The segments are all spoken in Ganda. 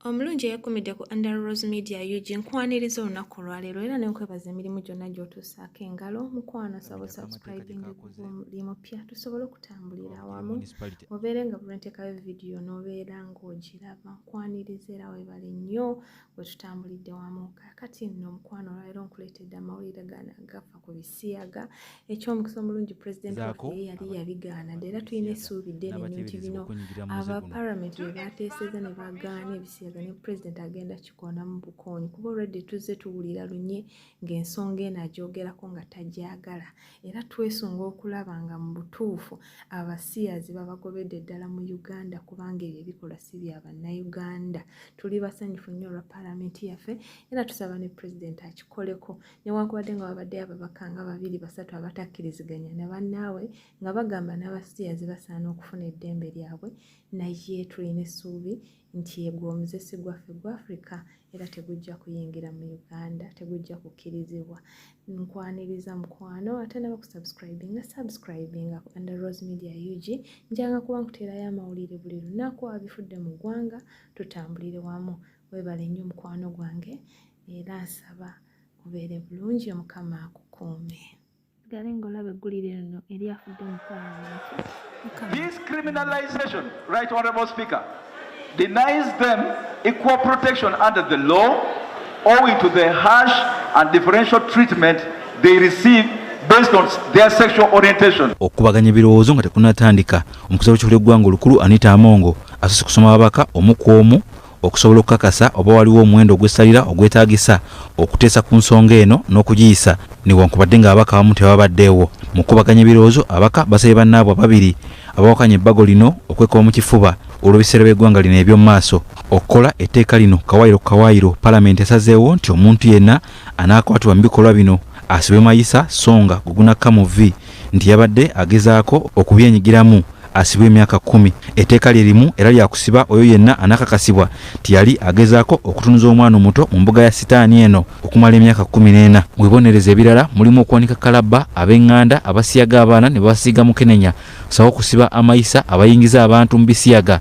omulungi eyakumidde ku under rose media ug nkwaniriza olunaku olwaleero era nenkwebaza emirimu gyonna gyotuusaako engalo mukwano sabo subscribing buli mupya tusobole okutambulira awamu obeere nga bulwenteekayo vidiyo nobeera ngaogiraba nkwaniriza era webale nnyo bwe tutambulidde wamu kaakati nno omukwano olwaleero nkuleetedde amawulire gano agafa ku bisiyaga eky'omukisa omulungi pulezidenti waffe ye yali yabigaana dde era tulina essuubi ddene nyo nti bino aba paramenti bye baateeseza ne bagaana ebisiyaga ne pulezidenti agenda kikoona mu bukoonyi kuba olwedde tuzze tuwulira lunye ng'ensonga eno agyogerako nga tagyagala era twesunga okulaba nga mu butuufu abasiyazi babagobedde ddala mu uganda kubanga ebyo ebikolwa si bya bannayuganda tuli basanyufu nnyo olwa paalamenti yaffe era tusaba ne pulezidenti akikoleko newankubadde nga babadde ababaka nga babiri basatu abatakkiriziganya ne bannaabwe nga bagamba n'abasiyazi basaana okufuna eddembe lyabwe naye tulina essuubi nti egwo omuzesi gwaffe gwa africa era tegujja kuyingira mu uganda tegujja kukkirizibwa nkwaniriza mukwano ate naba kusubscribinga subscribinga ku under rose media ug njanga kuba nkuteerayo amawulire buli lunaku abifudde mu ggwanga tutambulire wamu webale nnyo mukwano gwange era nsaba kubeere bulungi omukama akukuume sigale ng'olaba eggulire lino eri afudde mu palamenti This criminalization, right honorable speaker, denies them equal protection under the law owing to the harsh and differential treatment they receive based on their sexual orientation. Okubaganya birowoozo nga tekunatandika omukuza w'ekihulo eggwanga olukulu Anita Amongo asose kusoma ababaka omu ku omu Okusobola okukakasa oba waliwo omuwendo ogw'essalira ogwetaagisa okuteesa ku nsonga eno n'okugiyisa, newankubadde ng'ababaka abamu tebabaddeewo. Mu kukubaganya ebirowoozo, ababaka basabye bannaabwe ababiri abawakanya ebbago lino okwekuba mu kifuba olw'ebiseera by'eggwanga lino eby'omu maaso okukola etteeka lino kawaayiro ku kawaayiro. Palamenti esazeewo nti omuntu yenna anaakwatibwa mu bikolwa bino asibwe mayisa so nga gwe gunakka mu vvi nti yabadde agezaako okubyenyigiramu. asibwe emyaka kkumi etteeka lye limu era lyakusiba oyo yenna anakakasibwa nti yali agezaako okutunuza omwana omuto mu mbuga ya sitaani eno okumala emyaka kkumi n'ena mu bibonerezo ebirala mulimu okuwanika kalabba ab'eŋŋanda abasiyaga abaana ne babasiiga mukenenya sawo okusiba amayisa abayingiza abantu mu bisiyaga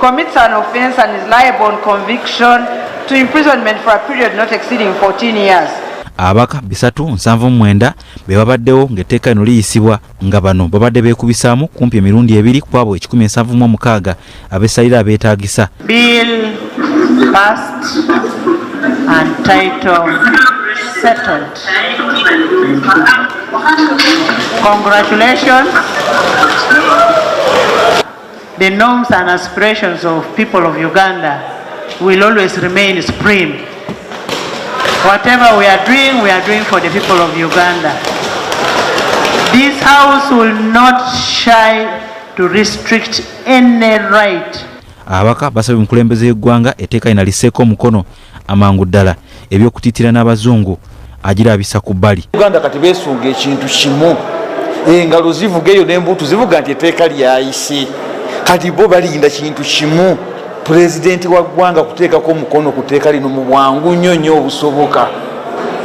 commits an offence and is liable on conviction to imprisonment for a period not exceeding 14 years. abaka bisatu nsanvu mwenda be babaddewo ng'etteeka lino liyisibwa nga bano babadde beekubisaamu kumpi emirundi ebiri ku abo ekikumi ensanvu mu omukaaga abesalira abeetaagisa Congratulations. The norms and aspirations of people of Uganda will always remain supreme. Whatever we are doing, we are doing for the people of Uganda. This House will not shy to restrict any right ababaka basabye omukulembeze y'eggwanga eteeka lina liseeko omukono Amangu ddala eby'okutiitira n'Abazungu agirabisa ku bbali. Uganda kati beesunga ekintu kimu, engalo zivuga eyo n'embuutu zivuga nti etteeka lyayise. Kati bo balinda kintu kimu, pulezidenti wa ggwanga kuteekako omukono ku tteeka lino mu bwangu nnyo nnyo obusoboka,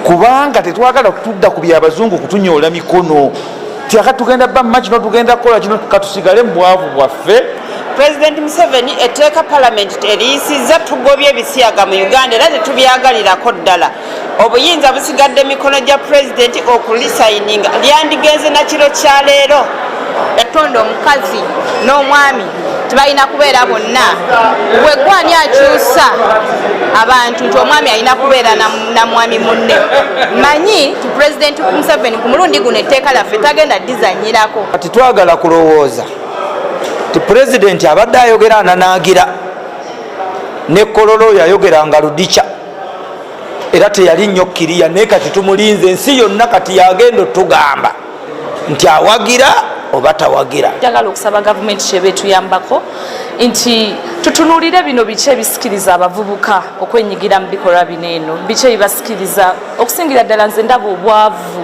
kubanga tetwagala kutudda ku by'Abazungu kutunyoola mikono. tyaka tugenda ba maki notugenda kukola kino katusigale mubwavu bwaffe pulezidenti museveni etteeka palamenti teriyisizza tugobye ebisiyaga mu uganda era tetubyagalirako ddala obuyinza busigadde mikono gya pulezidenti okulisayininga lyandigenze nakiro kya leero yatonda omukazi n'omwami tebalina kubeera bonna wegwani akyusa abantu nti omwami alina kubeera namwami munne manyi ti pulezidenti museveni ku mulundi guno etteeka laffe tagenda dizanyirako kati twagala kulowooza ti pulezidenti abadde ayogera ananaagira ne kololo oyo ayogeranga ludikya era teyali nnyo kiriya naye kati tumulinze ensi yonna kati yagenda otugamba nti awagira oba tawagira njagala okusaba gavumenti kyeba etuyambako nti tutunulire bino biki ebisikiriza abavubuka okwenyigira mu bikolwa bino eno biki ebibasikiriza okusingira ddala nze ndaba obwavu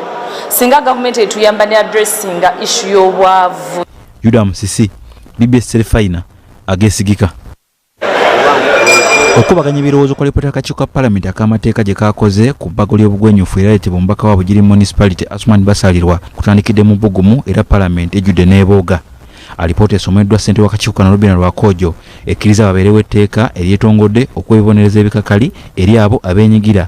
singa gavumenti etuyamba ne adressinga ishu y'obwavu yuda musisi bbs serifayina agesigika okukubaganya ebirowoozo kwa lipota akakiiko ka palamenti ak'amateeka gye kaakoze ku bbago ly'obugwenyufu era leetebwa omubaka wa bugiri municipality asuman basalirwa kutandikidde mu bbugumu era palamenti ejjudde n'ebooga alipoota esomeddwa ssente w'akakiiko kano robina lwakoojo ekkiriza babeerewo etteeka eryetongodde okwebibonereza ebikakali eri abo abeenyigira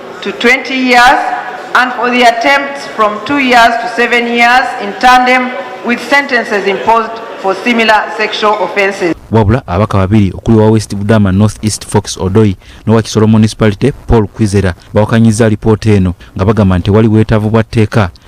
to 20 years and for the attempts from 2 years to 7 years in tandem with sentences imposed for similar sexual offences. wabula abaka babiri okuli wa west budama north east fox odoi nowa kisoro municipality paul kwizera bawakanyiza alipoota eno nga bagamba nti wali bwetaavu bwa tteeka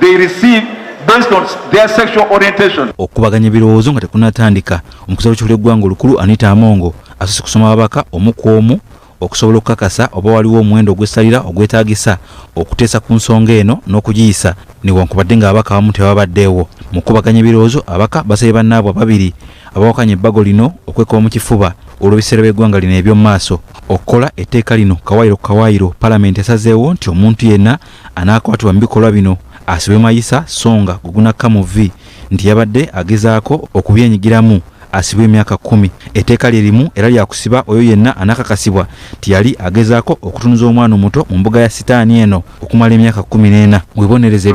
they receive based on their sexual orientation. Okubaganya birowoozo nga tekunatandika omukuza w'ekifuula eggwanga olukulu Anita Amongo asose kusoma ababaka omu ku omu okusobola okukakasa oba waliwo omuwendo ogw'essalira ogwetaagisa okuteesa ku nsonga eno n'okugiyisa newankubadde ng'ababaka abamu tebabaddeewo mu kubaganya ebirowoozo abaka basabye bannaabwe ababiri abawakanya ebbago lino okwekuba mu kifuba olw'ebiseera by'eggwanga lino eby'omu maaso okukola etteeka lino kawayiro ku kawayiro palamenti esazeewo nti omuntu yenna Anaakwatibwa mu bikolwa bino asibwe mayisa so nga gwe gunakka mu vvi nti yabadde agezaako okubyenyigiramu asibwe emyaka kkumi. Etteeka lye limu era lya kusiba oyo yenna anaakakasibwa nti yali agezaako okutunuza omwana omuto mu mbuga ya sitaani eno okumala emyaka kkumi n'ena. Webonereze.